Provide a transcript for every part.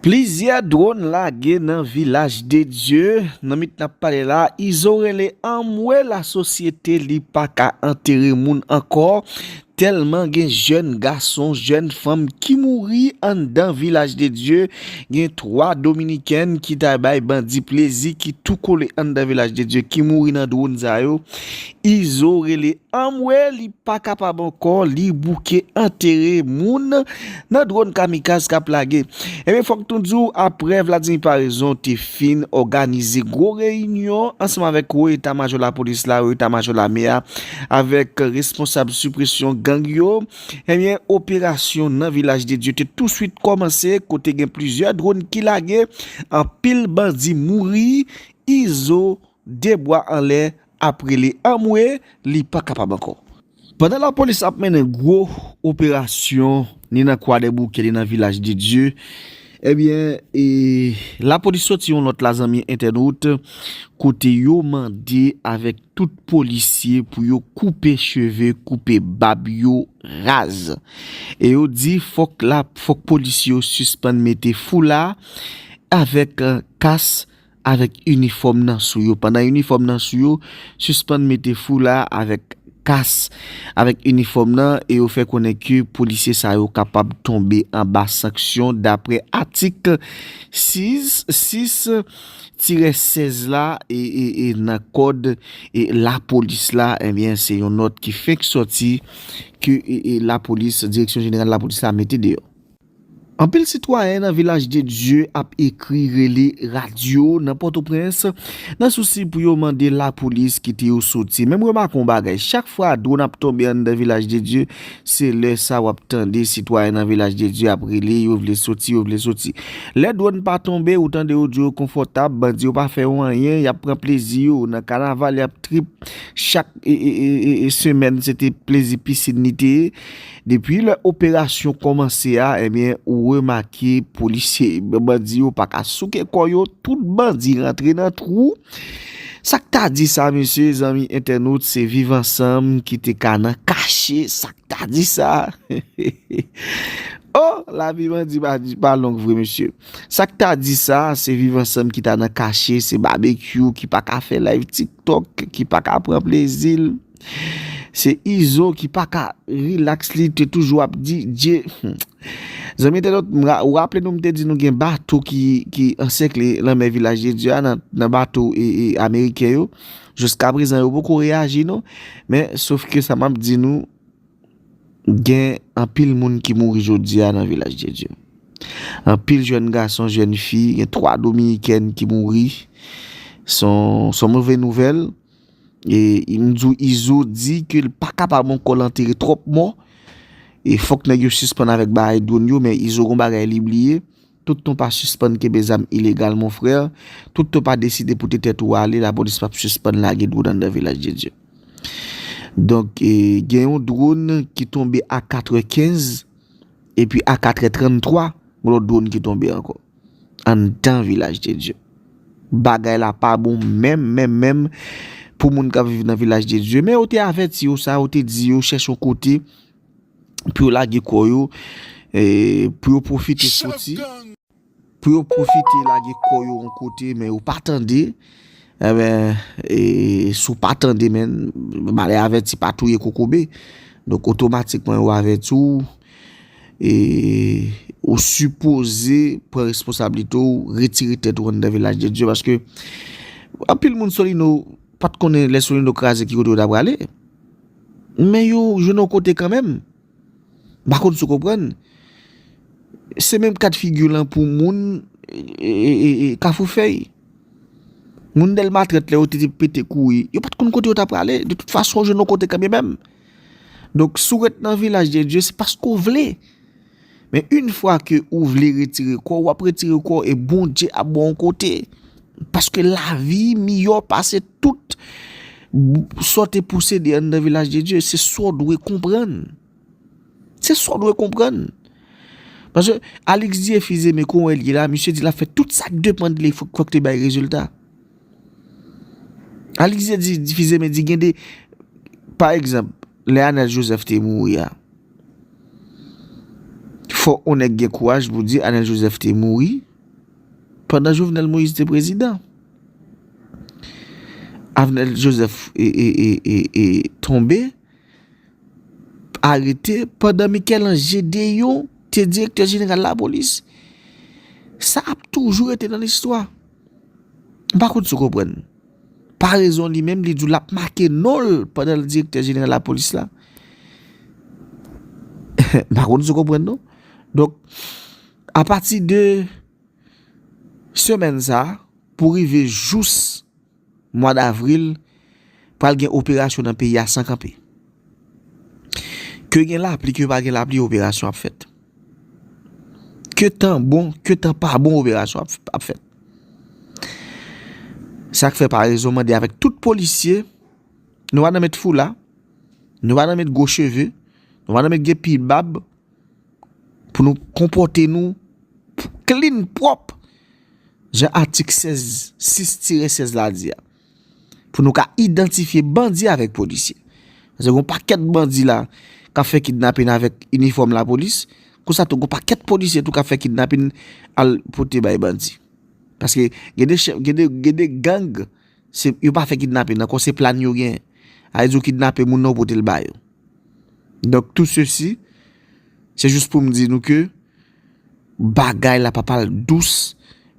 Plizyè dronn lage nan Vilaj de Dye nan mit nap pale la izo rele anmwe la sosyete li paka antere moun ankò tèlman gen jèn gason jèn fanm ki mouri anndan Vilaj de Dye gen 3 dominikèn ki ta bay bandi plezi ki tou kole anndan Vilaj de Dye ki mouri nan dronn sa yo Izo rele anmwee li pa kapab ankò li bouke antere moun nan dron kamikaz kap lage ebyen fòk nou diw aprè Vladimir Paraison te fin òganize gwo reyinyon ansanm avèk wo eta majò lapolis la wo eta majò lame a avèk responsab sipresyon gang yo ebyen operasyon nan vilaj de Dye te touswit kòmanse kote gen plizyè dron ki lage anpil bandi mouri Izo 2 bwa anlè ap rele anmwee li pa kapab ankò. Pandan lapolis ap mennen gwo operasyon ni nan kwadèboukè ni nan vilaj de Dye ebyen e lapolis soti yon lòt la zanmi entènot kote yo mande avèk tout polisye pou yo koupe cheve koupe bab yo raz e yo di fòk la fòk polisye yo sispann mete foula avèk kas avèk inifòm nan sou yo. Pandan inifòm nan sou yo, sispann mete foula avèk kas avèk inifòm nan e yo fè konnen ke polisye sa yo kapab tonbe anba sanksyon daprè atik 6 tirè 16 la e nan kòd lapolis la. Ebyen se yon nòt ki fenk sòti ke lapolis, direksyon jeneral lapolis la mete deyò. Anpil sitwayen nan Vilaj de Dye ap ekri, rele radyo nan Pòtoprens nan sousi pou yo mande lapolis kite yo soti. Men m remake yon bagay, chak fwa dwòn ap tonbe anndan Vilaj de Dye, se lè sa w ap tande sitwayen nan Vilaj de Dye ap rele yo vle soti, yo vle soti. Lè dwòn pa tonbe, ou tande yo di yo konfòtab, bandi yo pa fè yo anyen, y ap pran plezi yo nan kanaval, y ap trip, chak semèn se te plezi pisin li te ye. Depi lè operasyon kòmanse a ebyen ou remake polisye bandi yo paka souke kò yo tout bandi rantre nan twou sak ta di sa mesye zanmi entènot se viv ansanm ki te ka nan kache sak ta di sa hehehehe oh lavi bandi pa long vre mesye sak ta di sa se viv ansanm ki ta nan kache se babekyou ki paka fè live tiktok ki paka pran plezil. Se izo ki paka relax li te toujou ap di dye humm zanmi entènot ou raple nou mte di nou gen bato ki ansèkle lanmè vilaj de dye a nan bato ameriken yo jiskaprezan yo poko reyaji non men sof ke sa map di nou gen anpil moun ki mouri jodi a nan vilaj de dye anpil jèn gason jèn fi gen 3 dominikèn ki mouri son move nouvel E mdi w izo di ke l pa kapab ankò l antere twòp mò e fòk nèg yo sispann avèk bagay dronn yo men izo gon bagay li bliye tout tan w pa sispann kenbe zam ilegal mon frè tout tan w pa deside pote tèt ou ale lapolis pap sispann lage dronn anndan vilaj de Dye donk gen yon dronn ki tonbe a katrè kenz epi a katrè trann twa gon lòt dronn ki tonbe ankò. anndan vilaj de Dye. Bagay la pa bon menm menm menm pou moun kap viv nan vilaj de Dye. Men yo te avèti yo sa, yo te di yo chèche yon kote pou yo lage kò yo, pou yo profite soti, pou yo profite lage kò yo yon kote men yo pa tande. Enben, e sou pa tande men, malè avèti pa touye kokobe. Donk otomatikman yo avèti ou. Ou sipoze pran responsabilite ou retire tèt ou anndan vilaj de Dye paske anpil moun solino pat konnen lè solino kraze ki kote yo ta prale men yo jwenn yon kote kanmenm pa konn sou konprann se menm kat figi lan pou moun e kafou fèy moun dèlma trèt lè yo te te pete kouri yo pat konn kote yo ta prale de tout fason yo jwenn yon kote kanmenm. Donk si w ret nan vilaj de Dye se paske w vle. Men yn fwa ke ou vle retire kò w, w ap retire kò w e Bondye ap ba w yon kote. Paske lavi miyò pase tout sa w te posede anndan vilaj de Dye. Se sa w dwe konprann. Se sa w dwe konprann. Paske Alix Dieuphis Aimé kon wè l ye la, misye di l ap fè tout sa k depann de li fòk te bay rezilta. Alix te di difize men di gen de pa egzanp lè Anel Joseph te mouri a fò ou nèk gen kouraj pou di Anel Joseph te mouri pandan Jovenel Moïse te prezidan Anel Joseph e tonbe arete pandan Mikel Ange de yon te direktè jeneral la polis sa ap toujou rete nan listwa M pa konn si w konprann. Parezon li menm li di w l ap make non l pandan l direktè jeneral lapolis la. M pa konn si w konprann non. Donk, apati de semèn sa a pou rive jous Mwa davril, pral gen operasyon nan peyi a san kanpe. Ke gen lapli, ke pa gen lapli, operasyon ap fèt. Ke tan bon, ke tan pa bon, operasyon ap fèt. Sa k fè parèzon mande avèk tout polisye, nou pa nan met foula, nou pa nan met gwo cheve, nou pa nan met gen pil bab, pou nou konpote nou klin, pwòp. jan atik 16, 6 tire 16 la di a, pou nou ka idantifye bandi avèk polisye. Pase gen yon pakèt bandi la k ap fè kidnapin avèk inifòm lapolis, konsa tou gen yon pakèt polisye tou k ap fè kidnapin al pote bay bandi. Paske gen de chèf, gen de, gen de gang, se yo pa fè kidnapin ankò, se plan yo gen. A di yo kidnape moun nan ou pote l ba yo. Donk tou sesi, se jous pou m di nou ke. Bagay la pa pral dous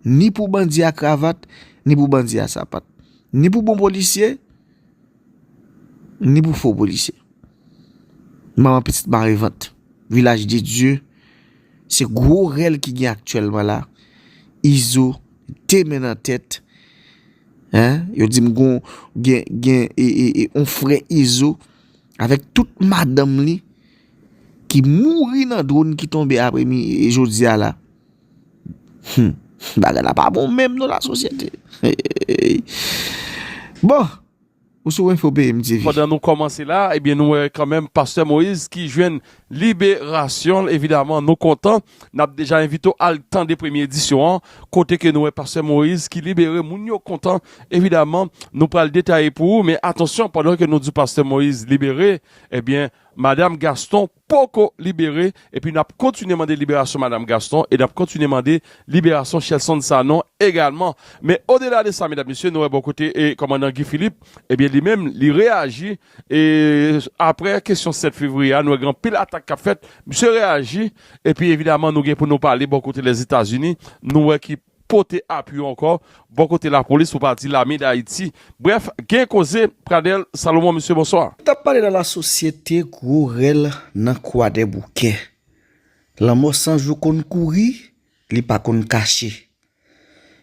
ni pou bandi a kravat, ni pou bandi a sapat. Ni pou bon polisye, ni pou fo polisye. Manman pitit mare vant. Vilaj de Dye, se gwo rèl ki gen aktyèlman la. Izo, te men nan tèt. Yo di m gon gen yon frè Izo, avèk tout madanm li. ki mouri nan drone ki tonbe apre mi jodi a la humm bagay la pa bon menm non la sosyete eeyy bon ou sou info peyim TV. Pandan nou kòmanse la ebyen nou wè kanmenm pastè Moïse ki jwenn liberasyonl evidaman nou kontan nap deja envite w al tande premye edisyon an kote ke nou wè pastè Moïse ki libere moun yo kontan evidaman nou pral detaye pou ou men atansyon pandan ke nou di pastè Moïse libere ebyen Madam Gaston poko libere epi nap kontinye mande liberasyon Madam Gaston e nap kontinye mande liberasyon Shelson Sanon egalman. Men odela de sa medam mesye nou wè bò kote kòmandan Guy Philippe ebyen li menm li reyaji e aprè kesyon 7 fevriye a nou wè gen anpil atak kap fèt misye reyaji epi evidaman nou gen pou nou pale bò kote Lèzetazini nou wè ki pote apui yo ankò bò kote lapolis pou pa di lame dayiti brèf gen koze Pradel Salomon mesye bonswa. Tap pale nan la sosyete gwo rèl nan kwadèboukè lanmò san jou konn kouri li pa konn kache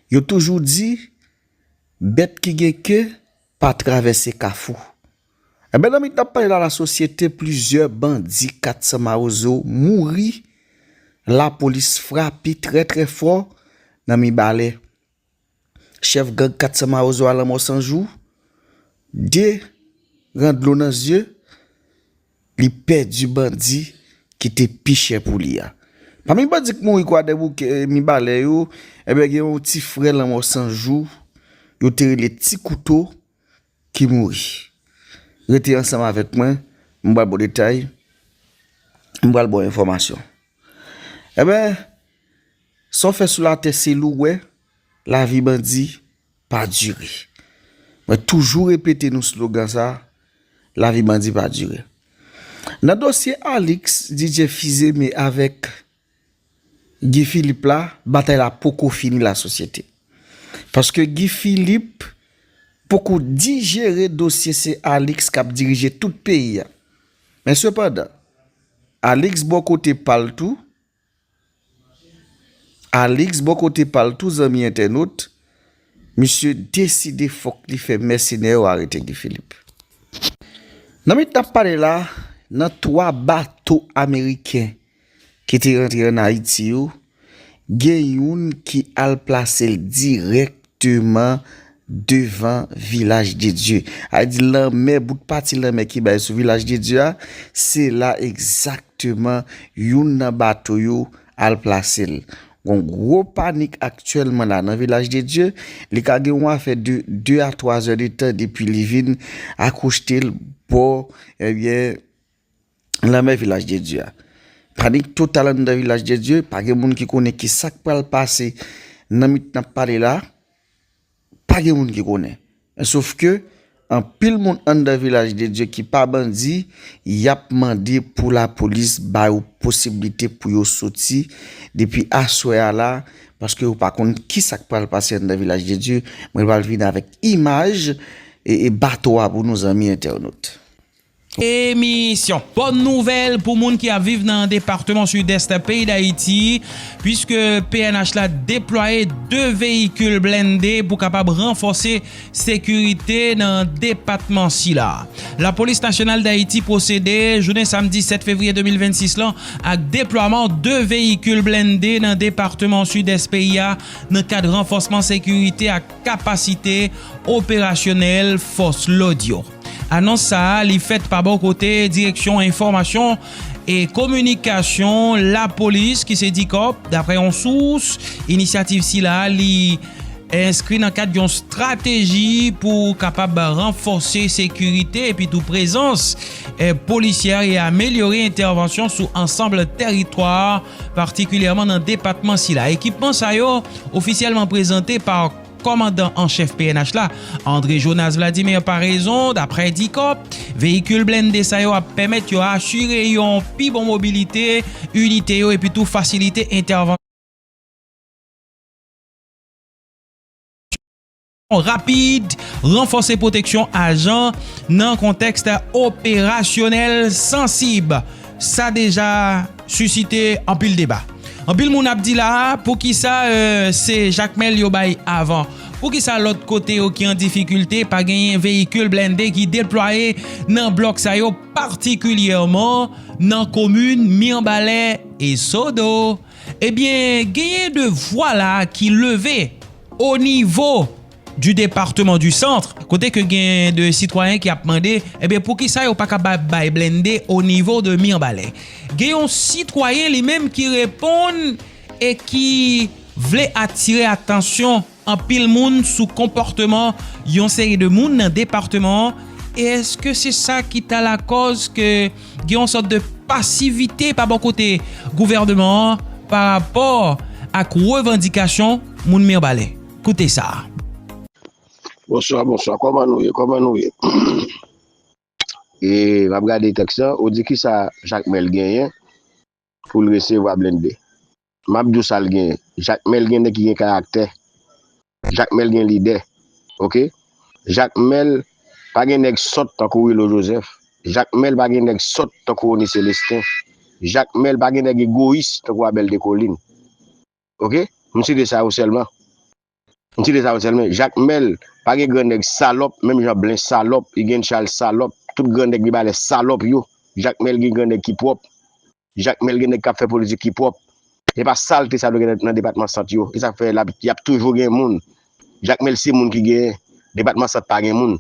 yo toujou di bèt ki gen ke pa travèse kafou. Ebyen nan mitan pale la lasosyete plizyè bandi 400 mawozo mouri lapolis frape trè trè fò nan mibalè. Chèf gang 400 mawozo a lanmò san jou, 2 ran dlo nan zye, li pèdi bandi ki te pi chè pou li a. Pami bandi k mouri kwadèboukè mibalè yo ebyen gen yon ti frè lanmò san jou yo te rele ti kouto. Ki mouri. Rete ansanm avèk mwen, m pral ba w detay, m pral ba w enfòmasyon. Enben, sa w fè sou latè se l ou wè, lavi bandi pa dire. Mwen toujou repete nou slogan sa, lavi bandi pa dire. Nan dosye Alix, DJ Fizeme avèk. Guy Philippe la batay la poko fini la sosyete paske Guy Philippe poko dijere dosye se Alix kap dirije tout peyi a men sepandan Alix bò kote pal tou Alix bò kote pal tou zanmi entènot misye deside fòk li fè mèsenè yo arete Guy Philippe nan minit nap pale la nan 3 bato ameriken Ki te rantre an Ayiti yo, gen youn ki al plase l dirèkteman devan Vilaj de Dye. A di lanmè, bout pati lanmè ki bay sou Vilaj de Dye a, se la egzakteman youn nan bato yo al plase l. Gon gwo panik aktyèlman la nan Vilaj de Dye. Li ka gen yon afè de 2 a 3 zè de tan depi li vin akouchte l bò, ebyen, Lanmè Vilaj de Dye a. Panik total anndan Vilaj de Dye, pa gen moun ki konnen ki sa k pral pase nan mi tan n ap pale la a, pa gen moun ki konnen. Men sof ke, anpil moun anndan Vilaj de Dye ki pa bandi, y ap mande pou lapolis ba yo posiblite pou yo soti depi aswè a la, paske yo pa konn ki sa k pral pase anndan Vilaj de Dye. Mwen pral vini avèk imaj bato a pou nou zanmi entènot. Emisyon Bòn Nouvèl pou moun ki ap viv nan departeman Sidès peyi Dayiti, puiske pnh la deplwaye 2 veyikil blende pou kapab ranfòse sekirite nan depatman sila. Lapolis Nasyonal Dayiti pwosede, jounen samdi 7 fevriye 2026 lan, ak deplwaman 2 veyikil blende nan departeman Sidès peyi a nan kad ranfòsman sekirite ak kapasite operasyonèl fòs lòd yo. Anons sa a li fèt pa bò kote direksyon enfòmasyon e kominikasyon lapolis ki se Dicop, daprè yon sous, inisyativ sila a li enskri nan kad yon strateji pou kapab ranfòse sekirite epi tou prezans polisyè e amelyore entèvansyon sou ansanb tèritwa patikilyèman nan depatman sila. Ekipman sa yo ofisyèlman prezante pa. Kòmandan an chèf pnh la, André Jonas Vladimir Paraison, daprè Dicor, veyikil blende sa yo ap pèmèt yo asire yon pi bon mobilite inite yo epi tou fasilite entèvansyon rapid, ranfòse pwoteksyon ajan nan kontèks operasyonèl sansib. Sa deja. Susite anpil deba. Anpil moun ap di la a, poukisa se Jakmèl yo bay avan? Poukisa lòt kote yo ki an difikilte pa genyen veyikil blende ki deplwaye nan blòk sa yo patikilyèman nan komin Mirbalè e Sodo? Ebyen genyen 2 vwa la a ki leve onivo du département du centre kote ke gen de sitwayen ki ap mande ebyen poukisa yo pa kapab bay blende o nivo de Mirbalè. Gen yon sitwayen li menm ki reponn e ki vle atire atansyon anpil moun sou konpòteman yon seri de moun nan departeman an e eske se sa ki ta lakòz ke gen yon sòt de pasivite pa bò kote gouvèneman an pa rapò ak revandikasyon moun Mirbalè. Koute sa a. Bonswa bonswa kòman nou ye kòman nou ye e map gade tèks lan ou di kisa jakmèl genyen poul resevwa blende map diw sal genyen jakmèl gen nèg ki gen karaktè jakmèl gen lidè ok jakmèl pa gen nèg sòt tankou wilo jozèf jakmèl pa gen nèg sòt tankou rony selestin jakmèl pa gen nèg egoyis tankou abèl dekolin ok m site sa yo selman m site sa yo selmen jakmel pa gen gran neg salop menm jan blen salop igen chal salop tout gran neg mibalè salop yo jakmel gen gran neg ki prop jakmel gen neg kap fè politik ki prop se pa salte sa nou gen nan depatman sant yo esak fè lap yap toujou gen moun jakmel se moun ki gen depatman sant pa gen moun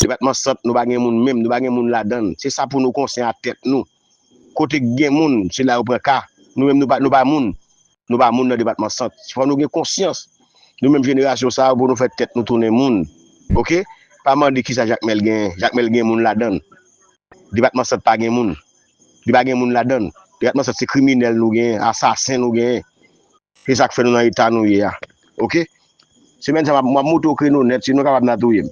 depatman sant nou pa gen moun menm nou pa gen moun ladann se sa pou nou konsen a tet nou. Kote k gen moun, se la yo pran ka. Nou menm nou pa moun. Nou pa moun nan depatman sant. Fò nou gen konsyans. Nou menm jenerasyon sa yo pou nou fè tèt nou tounen moun. Ok. Pa mande kisa Jakmèl genyen. Jakmèl gen moun ladan l. Depatman sant pa gen moun. Li pa gen moun ladan l. Depatman sant se kriminèl nou genyen. Asasen nou genyen. Se sa k fè nou nan eta nou ye a. Ok. Semèn sa m ap monte w kreno nèt. Si nou kapab n a touye m.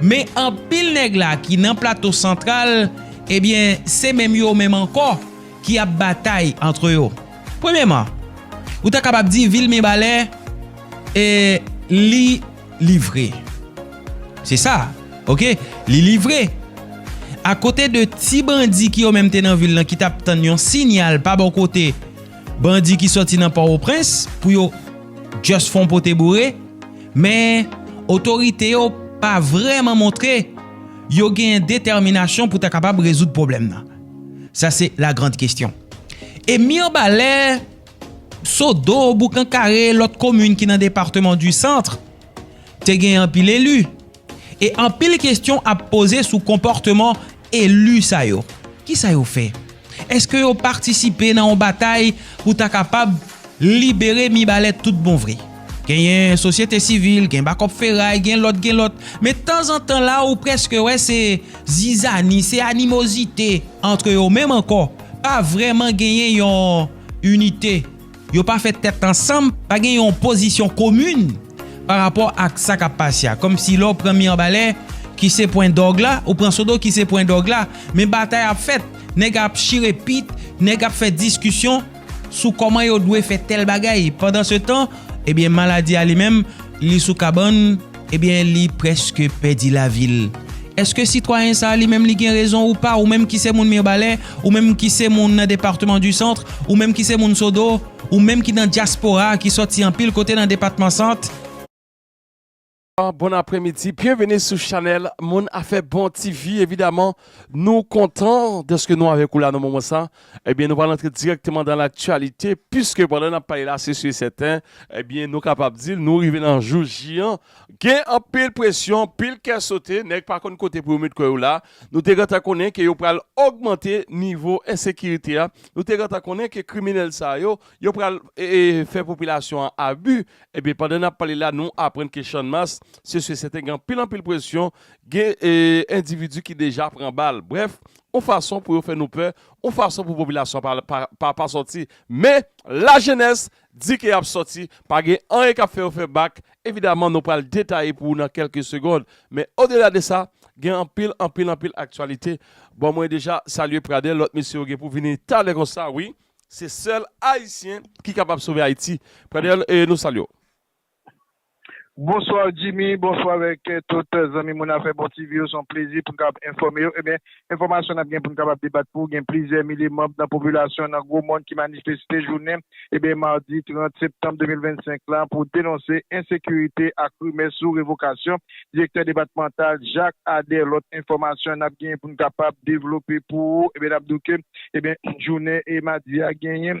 Men anpil nèg la ki nan Plato Santral, ebyen se menm yo menm ankò ki ap batay antre yo. Premyèman, ou ta kapab di vil Mibalè e li livre. Se sa, ok, li livre. Akote de ti bandi ki yo menm te nan vil lan ki t ap tann yon sinyal pa bò kote bandi ki sòti nan Pòwoprens pou yo just fon pote boure, Men, otorite yo pa vrèman montre yo gen detèminasyon pou ta kapab rezoud pwoblèm nan. Sa se la grand kestyon. E Mirbalè, Sodo, Boukan Kare, lòt komin ki nan departeman di Centre, te gen anpil eli. E anpil kestyon ap poze sou konpòteman elu sa yo. Kisa yo fè? Eske yo patisipe nan yon batay pou ta kapab libere Mibalè tout bon vre? Genyen sosyete sivil, gen bakòp feray, gen lòt, gen lòt. Men tanzantan la ou preske wè se zizani, se animozite antre yo menm ankò. Pa vreman genyen yon inite. Yo pa fè tèt ansanm, pa gen yon pozisyon komin pa rapò ak sa k ap pase a. Kòmsi lè w pran Mirbalè ki se pwen dòg la, ou pran Sodo ki se pwen dòg la, men batay ap fèt, nèg ap chire pit, nèg ap fè diskisyon sou kòman yo dwe fè tèl bagay. Pandansetan, ebyen maladi a li menm, li sou kabann. Ebyen li preske pèdi lavil. Eske sitwayen sa li menm li gen rezon ou pa ou menm ki se moun mirbalè ou menm ki se moun nan departeman du centre ou menm ki se moun sodo ou menm ki nan diaspora ki soti anpil kote nan depatman sant. Bonsoir bon aprè midi byenveni sou chanèl moun afè bon TV evidaman nou kontan dèske nou avèk ou la nan moman sa Ebyen nou pral antre dirèkteman dan laktyalite piske pandan nap pale la se si e sèten ebyen nou kapab di nou rive nan jou J an gen anpil presyon anpil kè sote nèg pa konn kote pou yo met kò yo la nou te gentan konnen ke yo pral ogmante nivo ensekirite a nou te gentan konnen ke kriminèl sa yo yo pral fè popilasyon an abi ebyen pandan nap pale la nou aprann ke channmas se si e sèten gen anpil anpil presyon gen endividi ki deja pran bal brèf yon fason pou yo fè nou pè, yon fason pou popilasyon pa pa sòti, men lajenès di ke yap sòti, pa gen anyen kap fè yo fè bak, evidaman nou pral detaye pou ou nan kèlke segond, men odela de sa, gen anpil, anpil, anpil aktyalite, bon mwen deja salye Pradel, lòt mesye yo gen pou vini talè konsa wi, se sèl ayisyen ki kapab sove Ayiti, Pradel nou salye w. Bonsoir Jimmy bonsoir avèk tout zanmi moun afè bon TV yo son plezi poun kapab enfòme yo ebyen enfòmasyon nap gen poun kapab debat pou gen plizyè milye manb nan popilasyon nan gwo mòn ki manifeste jounen ebyen mardi 30 septanm 2025 la pou denonse ensekirite ak rimè sou revokasyon direktè depatmantal Jak Adè lòt enfòmasyon nap gen poun kapab devlope pou ou ebyen nap di w ke ebyen jounen e madi a genyen.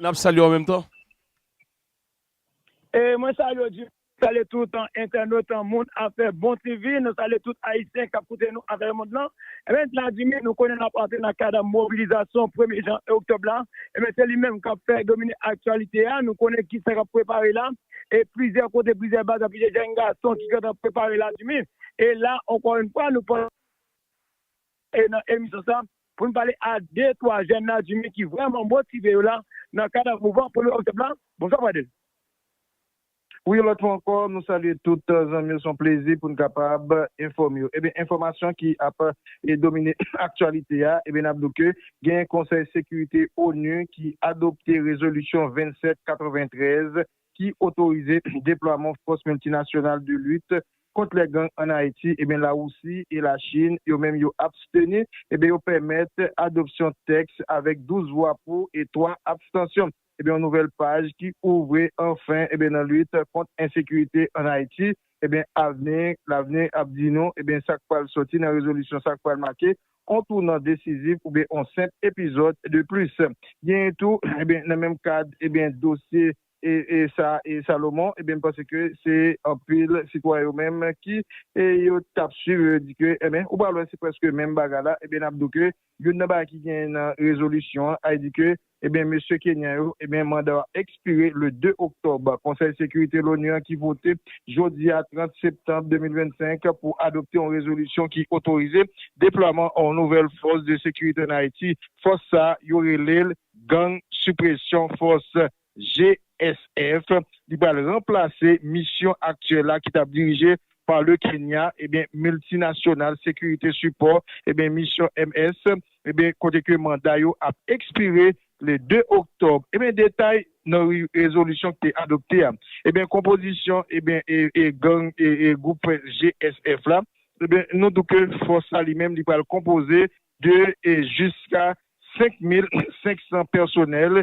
N ap salye w an menm tan. E mwen salye w Jimmy. N salye tout entènot moun afè bon TV. Nou salye tout Ayisyen k ap koute nou atravèmond lan. Ebyen la Jimmy, nou konnen n ap antre nan kad mobilizasyon premye jan oktòb la. Ebyen se li menm k ap fè domine aktyalite a. Nou konnen ki sa k ap prepare la. E plizyè kote, plizyè baz, plizyè jenn gason ki gentan prepare la Jimmy. E la ankò yn fwa nou pran. E nan emisyon sa, pou nou pale a de twa jèn nan Djimi ki vrèman motive yo la nan kad mouvan Premye Oktòb la. Bonswa Pradel. Wi yon lòt fwa ankò nou salye tout zanmi yo se yon plezi pou n kapab enfòme yo. Ebyen enfòmasyon ki ap domine aktyalite a ebyen n ap di w ke gen konsèy sekirite onu ki adopte rezolisyon 2793 ki otorize deplwaman fòs miltinasyonal de lit kont lè gang an Ayiti, ebyen Lawousi e Lachin yo menm yo absteni, ebyen yo pèmèt adopsyon tèks avèk 12 vwa pou e 3 abstansyon. Ebyen yon nouvèl paj ki ouvri anfen ebyen nan lit kont ensekirite an Ayiti, ebyen avni, lavni ap di nou ebyen sak pral sòti nan rezolisyon sa k pral make kontounant desizif oubyen on senp epizòd de plis. Genyen tou, nan menm kad dosye sa e Salomon, m panse ke se anpil sitwayen yo menm ki yo t ap swiv yo di ke enben ou pral wè se prèske menm bagay la, n ap di w ke youn nan bagay ki genyen nan rezolisyon an, a di ke Ebyen mesye Kenyan yo, ebyen manda w ekspire le 2 oktòb. Konsèy Sekirite l'ONU an ki vote jodi a 30 septanb 2025 pou adopte yon rezolisyon ki otorize deplwaman yon nouvèl fòs de sekirite an Ayiti. Fòs sa a yo rele l Gang Suppression Force, GSF. Li pral ranplase misyon aktyèl la ki t ap dirije pa le Kenya, ebyen miltinasyonal sekirite sipò, ebyen misyon MS. Ebyen kote ke manda yo ap ekspire le 2 oktòb ebyen detay nan rezolisyon ki te adopte a ebyen konpozisyon ebyen e gang e gwoup GSF la ebyen nou di w ke fòs la li menm li pral konpoze de jiska 5500 pèsonèl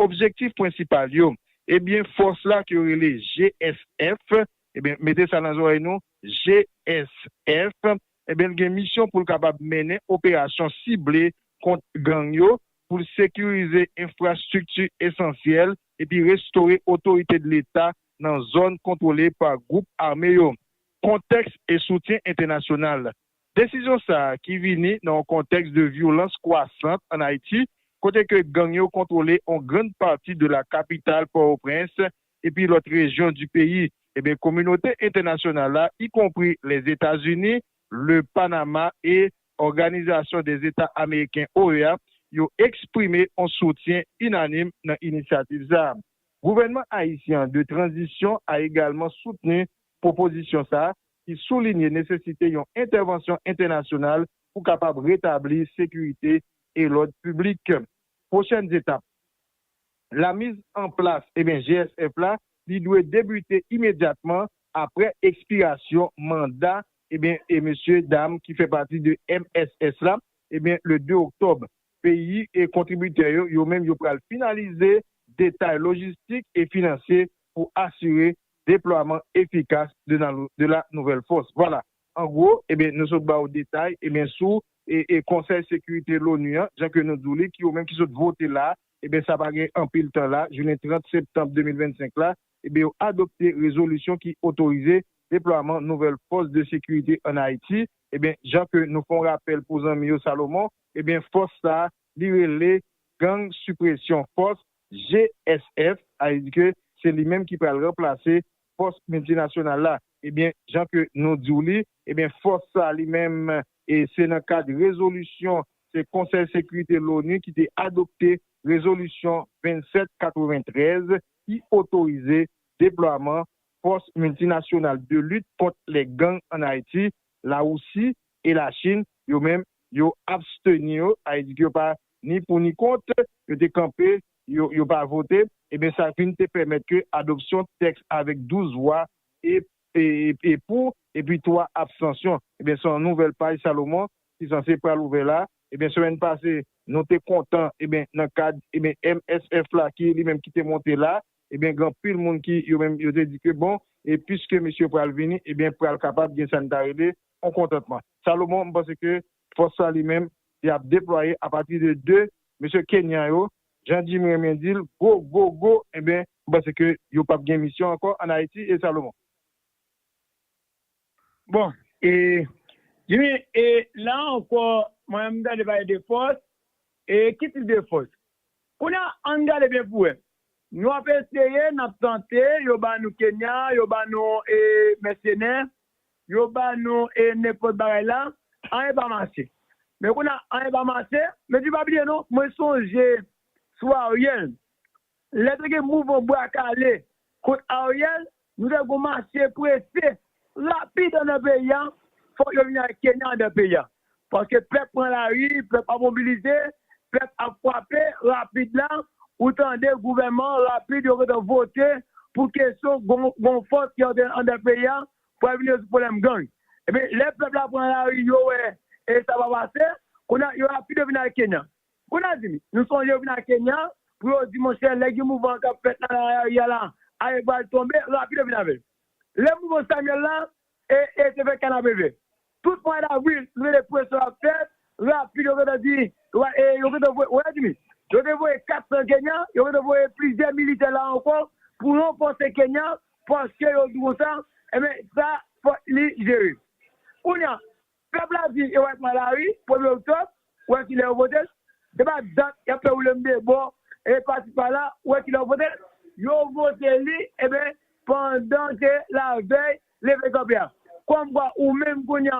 Objektif prensipal yo, ebyen fòs la ke yo rele GSF, ebyen mete sa nan zòrèy nou, GSF, ebyen l gen misyon pou l kapab mennen operasyon sible kont gang yo, pou l sekirize enfrastrikti esansyèl epi restore otorite de leta nan zòn kontwole pa gwoup ame yo. Kontèks e soutyen entènasyonal. Desizyon sa ki vini nan yon kontèks de vyolans kwasant an Ayiti kote ke gang yo kontwole on grand pati de la kapital Port-au-Prince epi lòt rejyon di peyi, eben kominote entènasyonal la y konpri Lèzetazini, Le Panama e Òganizasyon dè Zeta Ameriken, OEA, yo eksprime on soutyen inanim nan inisyativ sa. Gouvènman Ayisyen an de tranzisyon a egalman soutni pwopozisyon sa ki soulinye nesesite yon entèvansyon entènasyonal pou kapab retabli sekirite e lòd piblik. Pwochèn etap la miz an plas GSF la, li dwe debite imedyatman aprè ekspirasyon manda mesye dam ki fè pati de mss la le 2 oktòb. Peyi kontribitè yo, yo menm yo pral finalize detay lojistik e finansye pou asire deplwaman efikas de la nouvelle force. Vwala, an gwo, ebyen nou sot ba ou detay, ebyen sou e konsèy sekirite l'ONU an, jan ke nou di w li, ki yo menm ki sot vote la, ebyen sa pa gen anpil tan la, jounen 30 septanm 2025 la, ebyen yo adopte rezolisyon ki otorize deplwaman nouvelle force de sécurité en Haïti, ebyen jan ke nou fè yon rapèl pou zanmi yo Salomon, ebyen fòs sa li rele Gang Sipresyon Fòs, GSF, alidi ke se li menm ki pral ranplase Fòs Miltinasyonal la. Ebyen, jan ke nou di w li, ebyen fòs sa li menm e se nan kad rezolisyon, se Konsèy Sekirite L'ONU ki te adopte rezolisyon 27 93 ki otorize deplwaman Fòs Miltinasyonal de Lit Kont lè Gang an Ayiti, La Wousi e La Chin, yo menm, yo absteni yo, sa vle di ke yo pa ni pou ni kont, yo te kanpe, yo yo pa vote, eben sa vin te pèmèt ke adopsyon tèks avèk 12 vwa e e pou epi 3 abstansyon. Eben se yon nouvèl paj Salomon ki sanse pral ouvè la. Eben semèn pase, nou te kontan, eben nan kad, eben MSF la ki li menm ki te monte la, Ebyen gen anpil moun ki yo menm yo te di ke bon e piske mesye yo pral vini ebyen pral kapab gen sa n ta rele yon kontantman. Salomon m panse ke fòs sa li menm li ap deplwaye apati de 2 mesye Kenyan yo, jan Jimmy renmen di l gwo gwo gwo ebyen m panse ke yo p ap gen misyon ankò an Ayiti e Salomon. Bon e Jimmy e la ankò mwen menm m tande pale de fòs e ki tip de fòs? Kounye a ann gade byen pou wè nou ap eseye n ap tante yo ba nou Kenya yo ba nou e mèsenè yo ba nou e nenpòt bagay la anyen pa mache men kounye a anyen pa mache men pi pa bliye non mwen sonje sou Ariel Lè te gen mouvman bwa kale kont Ariel, nou te gon mache prese, rapid anndan peyi a, fòk yo vin al Kenya anndan peyi a. Paske pèp pran lari, pèp ap mobilize, pèp ap frape, rapid la, ou tande gouvèman an rapid yo gentan vote pou kesyon gon fòs ki antre anndan peyi a pou al vin rezoud pwoblèm gang. Ebyen lè pèp la pran lari yo wè sa pa pase, kounye a yo rapid yo vin al Kenya. Konatini, Nou sonje yo vin a Kenya pou yo di monchè lè gen mouvan kap fèt la nan Ayarya la, Ayè pral tonbe, rapid yo vin avè l. Lè mouvan Samuel la e e te fè Kanabreve. Tout mwa davril nou tande presyon ap fèt, rapid yo gentan di wa e yo gentan voye Konatini, yo te voye 400 Kenya, yo gentan voye plizyè militè la ankò pou ranfòse Kenya paske yo di konsa, enben sa fòk li jere. Kounya Pèp la di yo wè ak malari premye oktòb wè kilè yo votel se pa dat yap fè woulem de bò e pasi pala wè kilè yo votel yo vote li eben pandan ke lavèy leve kanpe a kòm kwa ou menm kounya